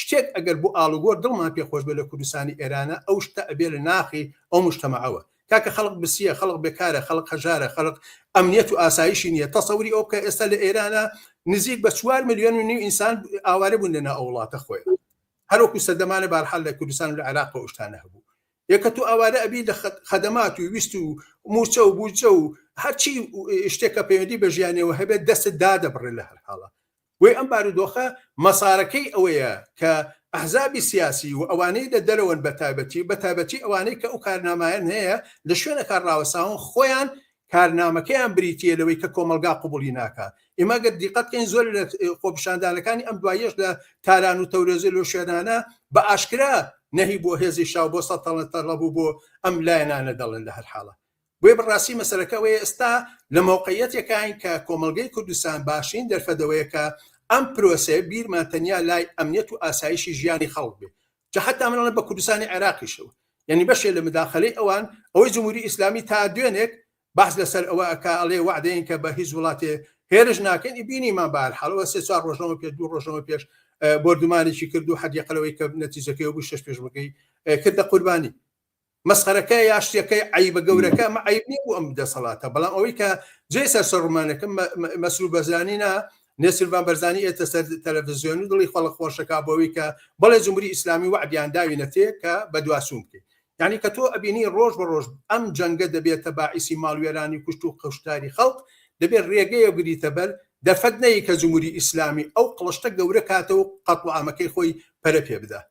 شتێک ئەگەر بۆ ئاڵوگۆر دڵمان پێ خۆش بێ لە کوردستانی ئێرانە ئەو شتە ئەبێ لە ناخی ئەو مشتەمەعەوە کاکە خەڵک برسیە خەڵک بێکارە خەڵک هەژارە خەڵک ئەمنیەت و ئاسایشی نییە تەسەوری ئەو کە ئێستا لە ئێرانە نزیک بە چوار میلیۆن و نیو ئینسان ئاوارە بوون لەنا ئەو وڵاتە خۆی هەروەکو سەردەمانە بارحال لە کوردستان و لە عێراق و شتانە هەبوو یەکە تو ئاوارە ئەبی لە خەدەمات و ویست و موچە و بوجە و هەرچی شتێکە پەیوەندی بە ژیانەوە هەبێت دەست دادەبڕێ لە هەر حاڵە هۆی ئەم بارودۆخە مەسارەکەی ئەوەیە کە ئەحزابی سیاسی و ئەوانەی لە دەرەوەن بە تایبەتی و بە تایبەتی ئەوانەی کە ئەو کارنامایان هەیە لە شوێنەکان ڕاوەستاون خۆیان کارنامەکەیان بریتییە لەوەی کە کۆمەڵگا قبوڵی ناکا ئێمە گەر دیقەت کەین زۆر لە خۆپیشاندانەکانی ئەم دوایەش لە تاران و تەورێزی لۆ شوێنانە بە ئاشکرا نەهی بۆ هێزی شاو بۆ سەتەڵە تەڵەبوو بۆ ئەم لایەنانە دەڵێن لە هەر حاڵە بۆیە بڕاستی مەسەلەکە ئەوەیە ئێستا لە مەوقعیەتێکاین کە کۆمەڵگەی کوردستان باشترین دەرفەت ئەوەیە کە ئەم پرۆسەیە بیرمان تەنیا لای ئەمنیەت و ئاسایشی ژیانی خەڵک بێ جا حەتا من ئەڵێم بە کوردستانی عێراقیشەوە یەنی بەشێ لە مداخەلەی ئەوان ئەوەی جمهوری ئیسلامی تا دوێنێک باس لەسەر ئەوە ئەکا ئەڵێ وعدەیەن کە بە هیچ وڵاتێ هێرش ناکەن بینیمان بار حاڵەوە سێ چوار ڕۆژەوە پێ دوو ڕۆژەوە پێش بردومانێکی کرد و حەدیقەلەوەی کە نەتیجەکەی بوو شش پێشمەکەی کردە قوربانی مەسخەرەکە یا شتەکەی عیبە گەورەکە مە عیب نییە بۆ ئەم دەسەڵاتە بەڵام ئەوەی کە جێ سەر سەر ڕمانەکە مەسرور بەرزانی نا نێسربان بەرزانی ئێتە سەر تەلەڤزیۆن و دڵی خەڵک خۆشەکە بۆەوەی کە بەڵێ جمهوری ئیسلامی وعدیان داوینە تێ کە بە دواسوون بکەیت یعنی کە تۆ ئەبینی ڕۆژ بە ڕۆژ ئەم جەنگە دەبێتە باعیسی ماڵوێرانی کوشت و قەشتاری خەڵک دەبێت ڕێگەیە گریتە بەر دەرفەت نەیە کە جمهوری ئیسلامی ئەو قڵشتە گەورە کاتە و قەتڵ ئامەکەی خۆی پەرە پێ بدا